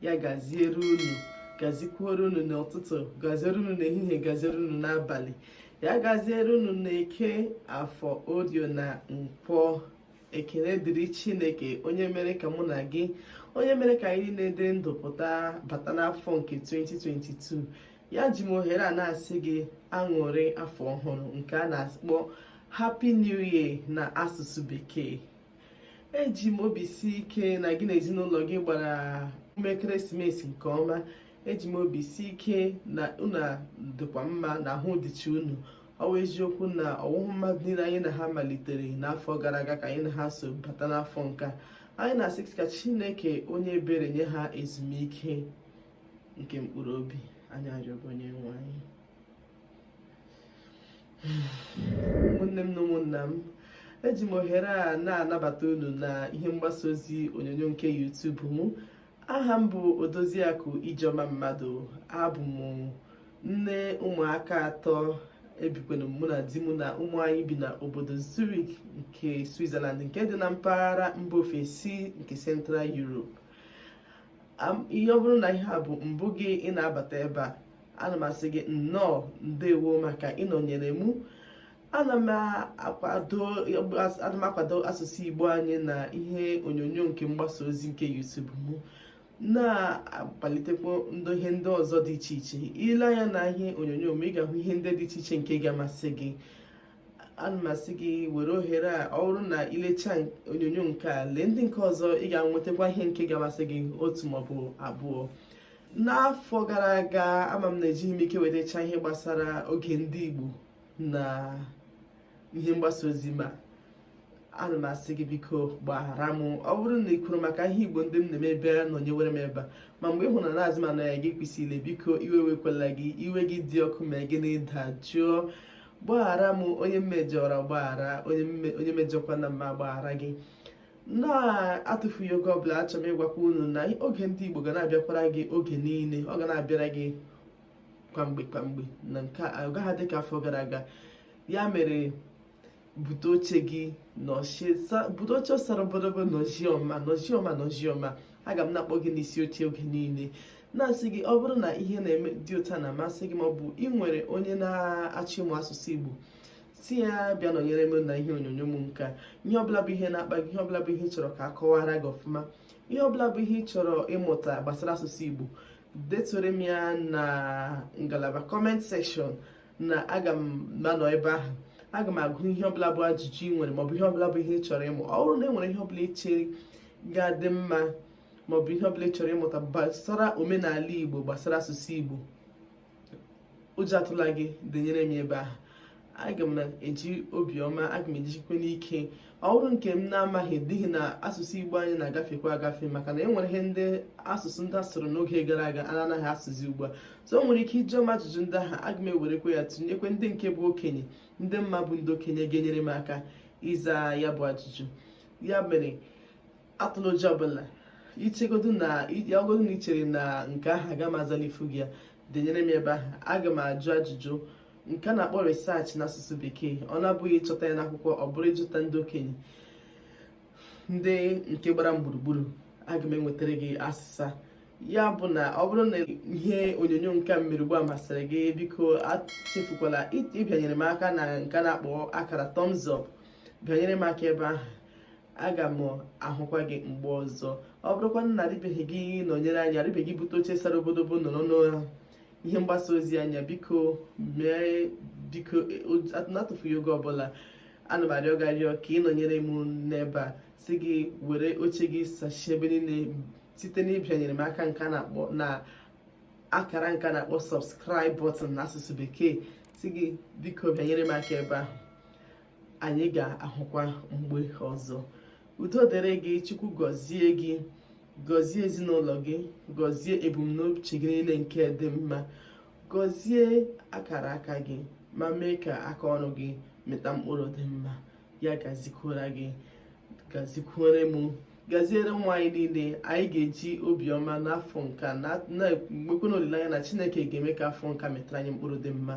ya gaziere unu gazikwuoro unu n'ụtụtụ gaziere unu n'ehihie gaziere unu n'abalị ya gaziere unu na eke afọ orie na nkwọ ekele dịrị chineke onye mere ka mụ na gị onye mere ka anyị niile dị ndụ pụta bata n'afọ nke 2022 a eji m ohere a na-asị gị aṅụrị afọ ọhụrụ nke a na-akpọ happy new year na asụsụ bekee eji m obi si ike na gị na ezinụlọ gị gbara emume ekeresimesi nke ọma eji m obi si ike na unu dịkwa mma na ahụ dịcha unu ọ bụ eziokwu na ọwụhụ mmadụ niile anyị na ha malitere n'afọ gara aga ka anyị na ha so bata n'afọ nke a anyị na-asị ka chineke onye ebere nye ha ezumike nke mkpụrụ obi anyị arịọ gị onye nwe anyị ụmụnne m na ụmụnna m eji m ohere a na-anabata unu na ihe mgbasa ozi onyonyo nke YouTube m aha m bụ odoziakụ ijeọma mmadụ abụ m nne ụmụaka atọ ebikwanụ mụ na di mụ na ụmụ anyị bi na obodo Zurich nke Switzerland nke dị na mpaghara mba ofesi nke Central Europe ihe ọ bụrụ na ihe a bụ mbụ gị ị na-abata ebe a ana m asị gị nnọọ ndewo maka ịnọnyere mụ ana m akwado asụsụ igbo anyị na ihe onyonyo nke mgbasa ozi nke YouTube mụ na-akpalitekwa ndị ihe ndị ọzọ dị iche iche i lee anya na ihe onyonyo m ị ga-ahụ ihe ndị dị iche iche nke ga-amasị gị ana m asị gị were ohere a ọ bụrụ na i lechaa onyonyo nke a lee ndị nke ọzọ ị ga-enwetakwa ihe nke ga-amasị gị otu maọbụ abụọ n'afọ gara aga ama m na ejighị m ike wetacha ihe gbasara oge ndị Igbo na ihe mgbasa ozi ma ana m asị gị biko gbaghara m ọ bụrụ na ị kwuru maka ihe igbo ndị m na-eme ebe a nọnyewere m ebe a ma mgbe ị hụrụ na na-azị ma na ya gị kwesịrị biko iwe wekwala gị iwe gị dị ọkụ ma gị dajụọ gbaghara m onye m mejọra gbaghara onye mejọkwara m m agbaghara gị na-atụfughị oge ọbụla achọrọ m ịgwakwa unu na oge ndị Igbo ga na-abịakwara gị oge niile ọ ga na-abịara gị kwamgbe kwamgbe na nke a agaghị adị ka afọ gara aga ya mere bute oche gị bute oche sara obodobo nọzie ọma nọzie ọma nọzie ọma aga m na-akpọ gị n'isi oche oge niile na-asị gị ọ bụrụ na ihe m na-eme dị otu a na-amasị gị ma ọ bụ ị nwere onye na-achọ ịmụ asụsụ Igbo sị ya bịa nọnyere m na ihe onyonyo m nke a ihe ọbụla bụ ihe na-akpa gị ihe ọbụla bụ ihe ị chọrọ ka a kọwara gị ọfụma ihe ọbụla bụ ihe ị chọrọ ịmụta gbasara asụsụ Igbo detuoro m ya na ngalaba comment section na aga m na-anọ ebe ahụ aga m agụ ihe ọbụla bụ ajụjụ ị nwere maọbụ ihe ọbụla bụ ihe ị chọrọ ịmụ ọ bụrụ na e nwere ihe ọbụla ị chere ga-adị mma maọbụ ihe ọbụla ị chọrọ ịmụta gbasara omenala igbo gbasara asụsụ igbo ụjọ atụla gị denyere m ebe ahụ aga m na-eji obiọma aga m ejikwa n'ike ọ bụrụ nke m na-amaghị n'ihi na asụsụ igbo anyị na-agafekwa agafe maka na e nwere ihe ndị asụsụ ndị a sụrụ n'oge gara aga a na-anaghị asụzi ugbu a so o nwere ike ị jụọ m ajụjụ ndị ahụ aga m ewerekwa ya tụnyekwa ndị nke bụ okenye ndị m ma bụ ndị okenye ga-enyere m aka ịza ya bụ ajụjụ ya mere atụla ụjọ ọbụla ichegodo na yagodo na i chere na nke ahụ aga m azalifu gị ya denyere m ebe ahụ aga m ajụ ajụjụ nke a na-akpọ research n'asụsụ bekee ọ na-abụghị ịchọta ya n'akwụkwọ ọ bụrụ ịjụta ndị okenye ndị nke gbara m gburugburu aga m enwetara gị asịsa ya bụ na ọ bụrụ na ihe onyonyo nke a mere ugbu a masịrị gị biko achefukwala ịbịanyere m aka na nke a na-akpọ akara thumbs up bịanyere m aka ebe ahụ aga m ahụkwa gị mgbe ọzọ ọ bụrụkwa na adịbeghị gị nọnyere anyị adịbeghị bute oche sara obodobo nọrọ n'ihe mgbasa ozi anyị a biko mee biko n'atụfughị oge ọbụla ana m arịọ gị arịọ ka ị nọnyere m n'ebe a sị gị were oche gị sachie ebe niile site n'ịbịanyere m aka nke a na-akpọ na akara nke a na-akpọ subscribe button n'asụsụ bekee sị gị biko bịanyere m aka ebe ahụ anyị ga-ahụkwa mgbe ọzọ udo dịrị gị chukwu gọzie gị gọzie ezinụlọ gị gọzie ebumnuche gị niile nke dị mma gọzie akara aka gị ma mee ka aka ọrụ gị mịta mkpụrụ dị mma ya gazikwara gị gazikwere m gaziere nwa anyị niile anyị ga-eji obiọma n'afọ nke a na-ekwekwana olileanya na chineke ga-eme ka afọ nke a mịtara anyị mkpụrụ dị mma